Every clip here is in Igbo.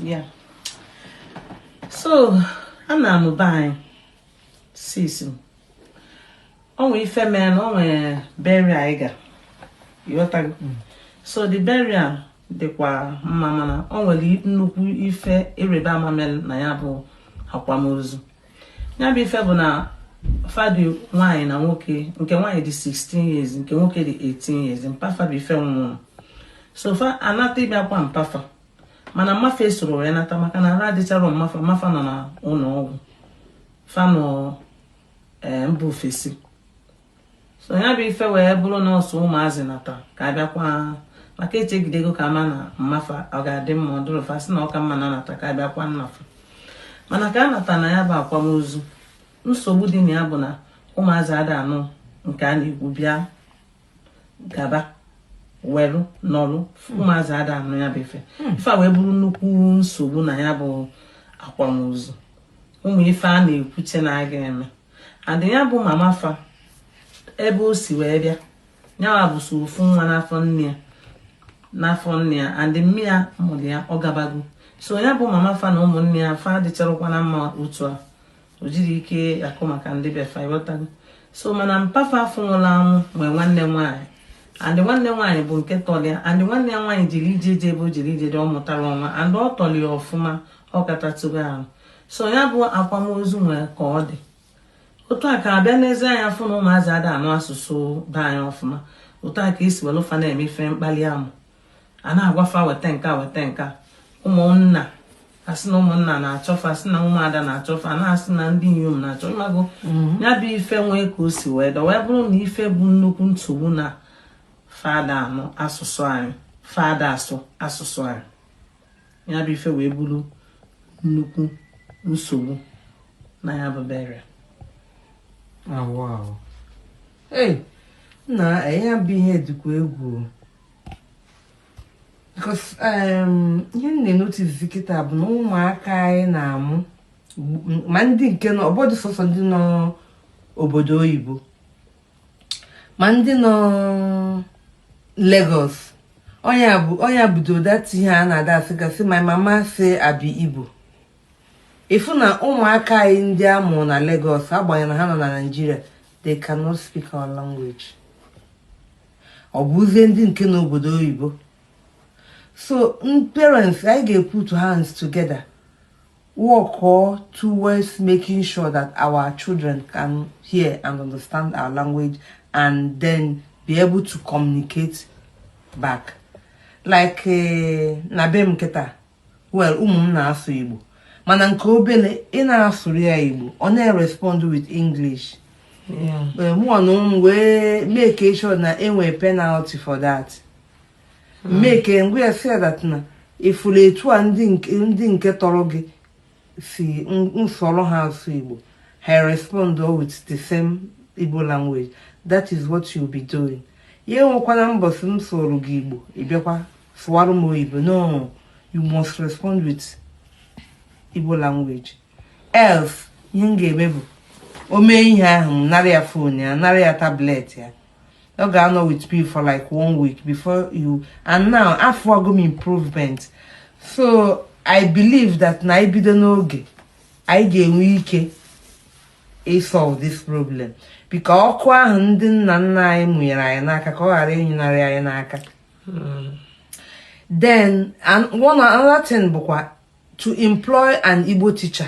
ya so a na-amụba anyị sis m o nwee ife mere na o nwere burial anyị ga ịghọtago mm. so the burial dịkwa mma mana o nwere nnukwu ife ịrịba ama mere na ya bụ akwamozu ya bụ ife bụ na fa dị nwaanyị na nwoke nke nwaanyị dị 16 years nke nwoke dị 18 years mpa fa bụ ife nwụrụ so fa anata ịbịa kwa mpa fa mana mma fa esoro wee nata maka na arụ adịcharọ mma fa mma fa nọ na ụlọ ọgwụ fa nọ eh, mba ofesi so ya bụ ife wee bụrụ na ọ sọ ụmụazị nata ka a bịa kwa maka e chegidego ka a ma na mma fa ọ ga-adị mma ọ dịrọ fa sị na ọ ka mma na a nata ka a bịa kwa nna fa mana ka a nata na ya bụ akwamozu nsogbu dị na ya bụ na ụmụazị ada anụ nke a na-ekwu bịa gaba welu nọlụ ụmụazị ada anụ ya bụ ife hmm. ife a wee bụrụ nnukwu nsogbu na ya bụ akwamozu ụmụ ife a na-ekwuche na a ga-eme and ya bụ mama fa ebe o si wee bịa nyanwa bụ sọ ofu nwa n'afọ nne ya and mma ya mụrụ ya ọ gabago so ya bụ mama fa na ụmụnne ya fa adịcharọkwa na mma otu a o jiri ike akọ maka ndị be fa ịghọtago so mana mpa fa afụ nwụrụ anwụ nwee nwanne nwaanyị and nwanne nwaanyị bụ nke tọrọ ya and nwanne ya nwaanyị jere ije di ebe o jere ije di ọ mụtarọ nwa and ọ tọrọ ya ọfụma ọ katatụgo ahụ so ya bụ akwamozu nwere ka ọ dị otu a ka a bịa n'ezi anyị fụ na ụmụazị ada anụ asụsụ be anyị ọfụma otu a ka e si welụ fa na-eme ife mkpali amụ a na-agwa fa weta nke a weta nke a ụmụnna a sị na ụmụnna na-achọ fa a sị na ụmụada na-achọ fa na-asị na ndị inyom na-achọ ịmago mhm. ya bụ ife nwee ka o si wee dọ wee bụrụ na ife bụ nnukwu nsogbu na fa ada anụ asụsụ anyị fa ada asụ asụsụ anyị ya bụ ife wee bụrụ nnukwu nsogbu na ya bụ burial ee na ya bụ ihe dịkwa egwu because ihe m na-enoticezi kịta bụ na ụmụaka anyị na-amụ ma ndị nke nọ ọ bụrọdụ sọsọ ndị nọ obodo oyibo ma ndị nọ Lagos ọ nya bụdụ that ihe a na-ada asịgasị my mama say I be Igbo ị fụ na ụmụaka anyị ndị a mụrụ na Lagos agbanyeghị na ha nọ na Nigeria they cannot speak our language ọ bụzie ndị nke n'obodo oyibo so parents anyị ga-eput hands together work towards making sure that our children can hear and understand our language and then be able to communicate back. Like eh, na be m kịta well ụmụ m na-asụ Igbo mana nke obele ị na-asụrụ ya Igbo ọ na-respond with English mụ na ụmụ wee make sure na enwee penalty for that. m mee ka m gwa ya sị that na ị fụrụ etu a ndị nke tọrọ gị si m sụọrọ ha asụ igbo ha respond with the same igbo language that is what you'll be doing ya enwekwana mbọsị m sụọrọ gị igbo ị bịakwa sụwara m oyibo no you must respond with igbo language else ihe m ga-eme bụ o mee ihe ahụ m nara ya phone ya nara ya tablet ya ọ ga-anọ with me for like one week before you and now afụgo m improvement so i believe that na anyị bido n'oge anyị ga-enwe ike ịsolve this problem biko ọkụ ahụ ndị nna nna anyị mụnyere anyị n'aka ka ọ ghara ịnyụnarị anyị n'aka hmm. then another thing bụkwa to employ an Igbo teacher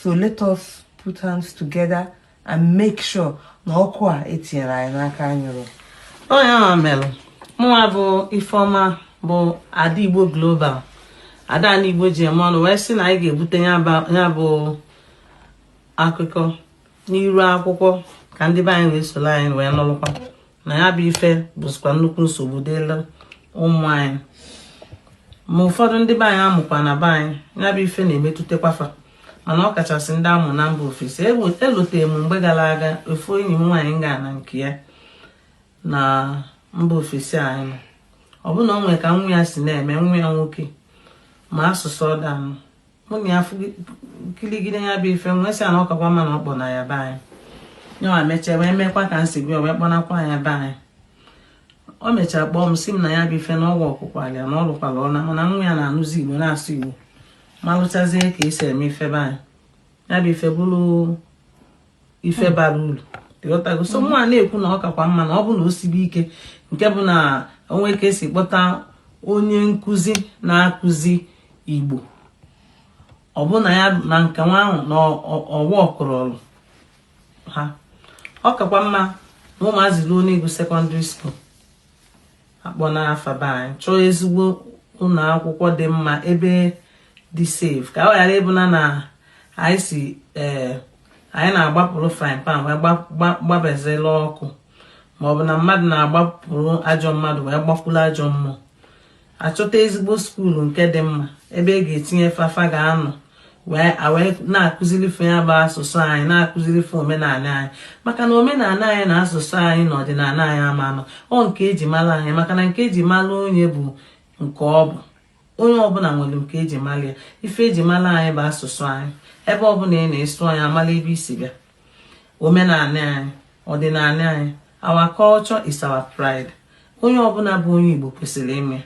so let us put hands together and make sure na ọkụ a etinyere anyị n'aka anyụrọ ọ ya mere mụnwa bụ ifeọma bụ ada igbo global ada na igbo ji eme ọnụ wee sị na anyị ga-ebute ya bụ akụkọ n'iru akwụkwọ ka ndị be anyị wee soro anyị wee nụrụkwa na ya bụ ife bụzikwa nnukwu nsogbu dịlị ụmụ anyị ma ụfọdụ ndị be anyị a mụkwa na be anyị ya bụ ife na-emetụtakwa fa mana ọ kachasị ndị a mụ na mba ofesi elotere m mgbe gara aga ofu enyi m nwaanyị m ga na nke ya na mba ofesi anyị nọ ọ bụ na ọ nwere ka nwa ya si na-eme nwa ya nwoke ma asụsụ ọ da-anụ mụ na ya kiligide ya bụ ife m wee sị ya na ọ kakwa mma na ọ kpọna ya be anyị yanwa mechaa wee mekwa ka m si gwa wee kpọnakwa ya be anyị o mechara kpọọ m sị m na ya bụ ife na ọ workụkwara na ọ lụkwara ọlụ na nwa ya na-anụzi igbo na-asụ igbo malụchazie ka e si eme ife be anyị ya bụ ife bụrụ ife bara uru ị ghọtago so mụwa na-ekwu na ọ kakwa mma na ọ bụ na o sibe ike nke bụ na o nwe ka e si kpọta onye nkụzi na-akụzi igbo ọ bụ na ya na nke nwa ahụ na ọ workụrọrọ ha ọ kakwa mma na ụmụazị ruo n'ịgụ secondary school a kpọna fa be anyị chọọ ezigbo ụlọ akwụkwọ dị mma ebe dị safe ka ọ ghara ịbụ na na anyị sị ee eh, anyị na-agbapụrụ frying pan wee gbabezela ọkụ ma ọ bụ na mmadụ na-agbapụrụ ajọ mmadụ wee gbakwuru ajọ mmụọ achọta ezigbo skuulu nke dị mma ebe e ga-etinye fa fa ga-anọ wee na-akụziri fa ya bụ asụsụ anyị na-akụziri fa omenala anyị maka na omenala anyị na asụsụ anyị na ọdịnala anyị ama ana ọ nke eji mara anyị maka na nke eji mara onye bụ nke ọ bụ onye ọbụla nwere nke eji mara ya ife eji mara anyị bụ asụsụ anyị ebe ọbụla ị na-asụ ya amala ebe i si bịa omenala anyị ọdịnala anyị our culture is our pride onye ọbụla bụ onye Igbo kwesịrị ime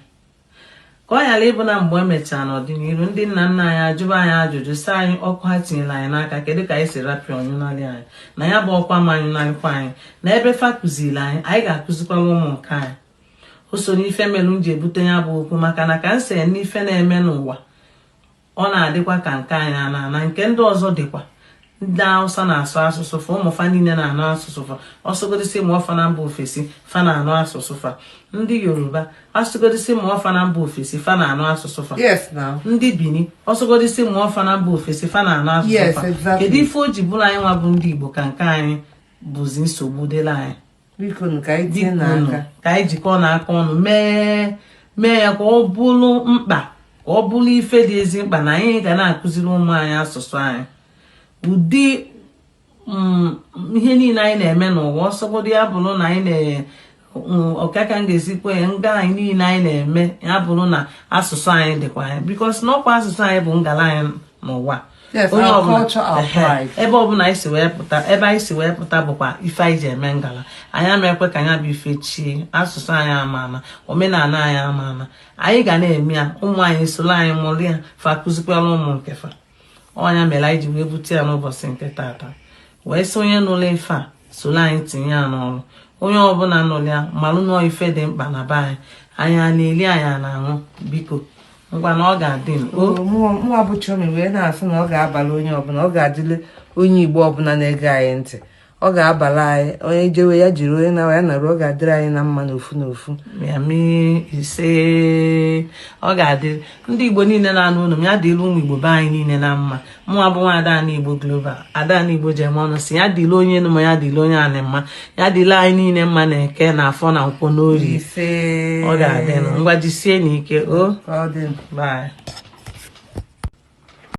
ka ọ ghara ịbụ na mgbe emechara n'ọdịnihu ndị nna nna anyị ajụba anyị ajụjụ sị anyị ọkụ ha tinyere anyị n'aka kedu ka anyị si rapụ ya ọ nyụnarị anyị na ya bụ ọkụ ama anyụnarịkwa anyị na ebe fa kụziri anyị anyị ga-akụzikwara ụmụ nke anyị o so n'ife mere m ji ebute ya bụ okwu maka na ka m si anụ ife na-eme n'ụwa ọ na-adịkwa ka nke anyị na-ana nke ndị ọzọ dịkwa ndị awụsa na-asụ asụsụ fa ụmụ fa niile na-anụ asụsụ fa ọ sọgodi sị mụọ fa na mba ofesi fa na-anụ asụsụ fa ndị yoruba ọ sọgodi sị mụọ fa na mba ofesi fa na-anụ asụsụ fa ndị bini ọ sọgodi sị mụọ fa na mba ofesi fa na-anụ asụsụ fa kedu ife o ji bụrụ anyị nwa bụ ndị igbo ka nke anyị bụzi nsogbu dịla anyị biko ka anyị tinyenụ aka ka anyị jikọọnụ aka ọnụ mee mee ya ka ọ bụrụ mkpa ka ọ bụrụ ife dị ezi mkpa na anyị ga na-akụziri ụmụ anyị asụsụ anyị ụdị mm, ihe niile anyị na-eme n'ụwa ọ sọgodu ya bụrụ na anyị na mm, ọkaka m ga-esi kwuo ya ngala anyị niile anyị na-eme ya bụrụ na asụsụ anyị dịkwa anyị because na ọkwa asụsụ anyị bụ ngala anyị n'ụwa Yes, Onye our ọbụla- culture, our Ehe. pride. ebe ọbụla anyị si wee pụta ebe anyị si wee pụta bụkwa ife anyị ji eme ngala anyị ama ekwe ka ya bụ ife chie asụsụ anyị ama ana omenala anyị ama ana anyị ga na-eme ya ụmụ anyị soro anyị mụrụ ya fa kụzikwara ụmụ nke fa ọ ya mere anyị ji wee bute ya n'ụbọchị nke tata wee sị onye nụrụ ife a soro anyị tinye ya n'ọrụ onye ọbụla nụrụ ya malụ na ọ ife dị mkpa na be anyị anyị a na-eli anyị a na-aṅụ biko ngwa na ọ ga-adị m o Oo, mụnwa bụ Chioma wee na-asị na ọ ga-abala onye ọbụla ọ ga-adịle onye Igbo ọbụla na-ege anyị ntị ọ ga-abala anyị onye jewe ya jeruo onye naa ya naruo ọ ga-adịrị anyị na mma n'ofu n'ofu ya mee ise ọ ga-adịrị ndị igbo niile na-anụ onu m ya dịrị ụmụ igbo be anyị niile na mma mụnwa bụ nwa Ada Ndị Igbo Global Ada Ndị Igbo ji eme ọnụ sị ya dịle onye enu ma ya dịle onye anị mma ya dịle anyị niile mma na eke na afọ na nkwọ n'orie ọ ga-adịnụ ngwa jisienụ ike o